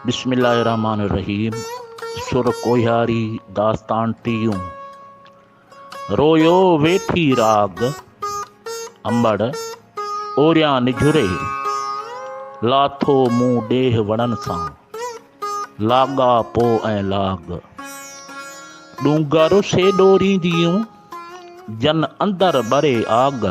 بسم الله الرحمٰن الرحيم سر ڪوهياري داستان ٽيون رويو ويٺي راڳ امڙ اوريان نجهري لاٿو مون ڏيهه وڻن سان لاڳا پو ۽ لاڳ ڏونگر سيڏو رينديون جن اندر ٻري آڳ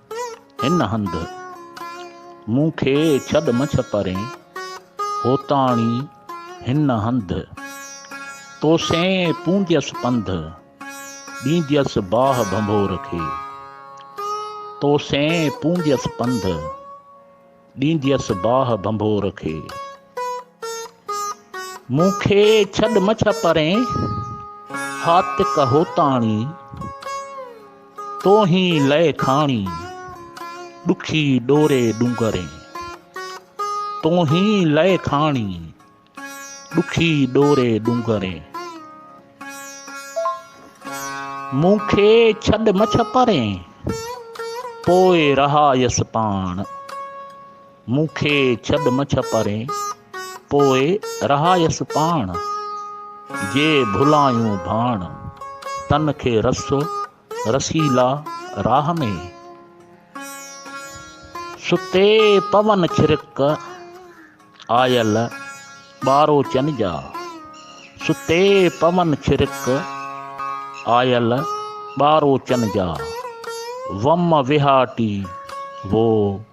هن هنڌ مون کي ڇڏ مڇ پرين، هوتاڻي هن هنڌ تو سين پونديس پنڌ، ڏينديس باهه ڀنڀور کي، تو سين پونديس پنڌ. ڏينديس باهه ڀنڀور کي. مون کي ڇڏ مڇ پرين هاتڪ هوتاڻي. توهين لئه کاڻي ڏکي ڏوري ڏونگرين. توهين لئه کاڻي. ڏکي ڏوري ڏونگرين. مون کي ڇڏ مڇ پرين، پوء رهايس پاڻ. مون کي ڇڏ مڇ پرين، پوء رهايس پاڻ. جي ڀلائيون ڀاڻ، تن کي رسو. رسيلا راهه ۾، ستي پون ڇرڪ آيل ٻاروچن جا، ستي پون ڇرڪ آيل ٻاروچن جا، وم وهاٽي وو.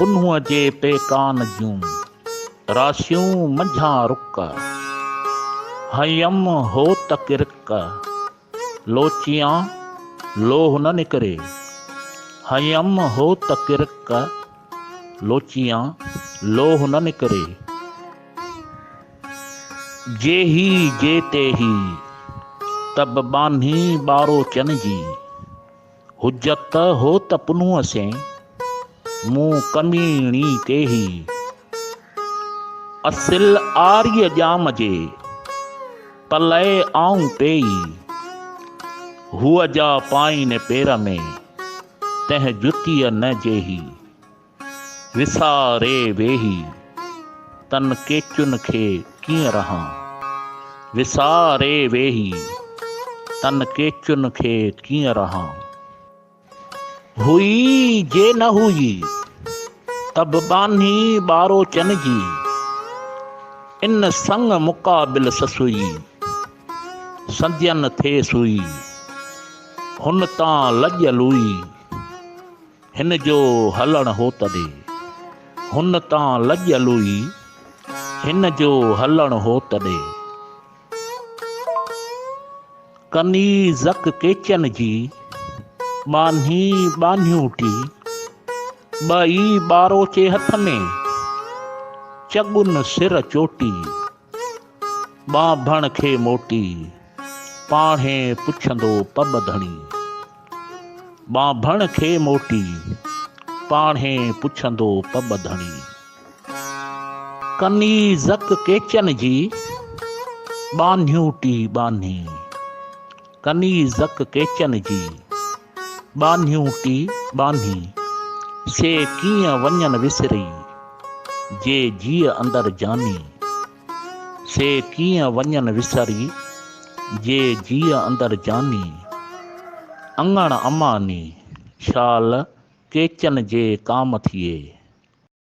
پنهونء جي پيڪان جون، راسيون منجهان رڪ. هنئيم هوت ڪرڪ، لوچيان لوهه نه نڪري. هنئيم هوت ڪرڪ، لوچيان لوهه نه نڪري. جي هي جي تي هي، تب ٻانهي ٻاروچن جي. حجت هو ته پنهون اسين، مون ڪميڻي تي هي. اصل آريء ڄام جي، پلئه آئون پيئي. هوء جا پائين پير ۾، تنهن جتيء نه جيهي. وساري ويهي تن ڪيچن کي ڪيئن رهان. وساري ويهي تن ڪيچن کي ڪيئن رهان. هئي جي نه هئي ته به ٻانهي ٻاروچن جي. ان سڱ مقابل سسئي سندين ٿئي سوئي. هن تان لڄ لوئي. هن جو هلڻ هو تڏي، هن تان لڄ لوئي، هن جو هلڻ هو تڏي. ڪنيزڪ ڪيچن جي، ٻانهي ٻانهيون ٽي، ٻئي ٻاروچي هٿ ۾، چڳن سر چوٽي. ٻانڀڻ کي موٽي پاڻهي پڇندو پٻ ڌڻي. ٻانڀڻ کي موٽي پاڻهي پڇندو پٻ ڌڻي. ڪنيزڪ ڪيچن جي ٻانهيون ٽي ٻانهي. ڪنيزڪ ڪيچن جي ٻانهيون ٽي ٻانهي، سي ڪيئن وڃن وسري، جي جيء اندر جاني. سي ڪيئن وڃن وسري، جي جيء اندر جاني. اڱڻ اماني، شال ڪيچن جي ڪام ٿئي.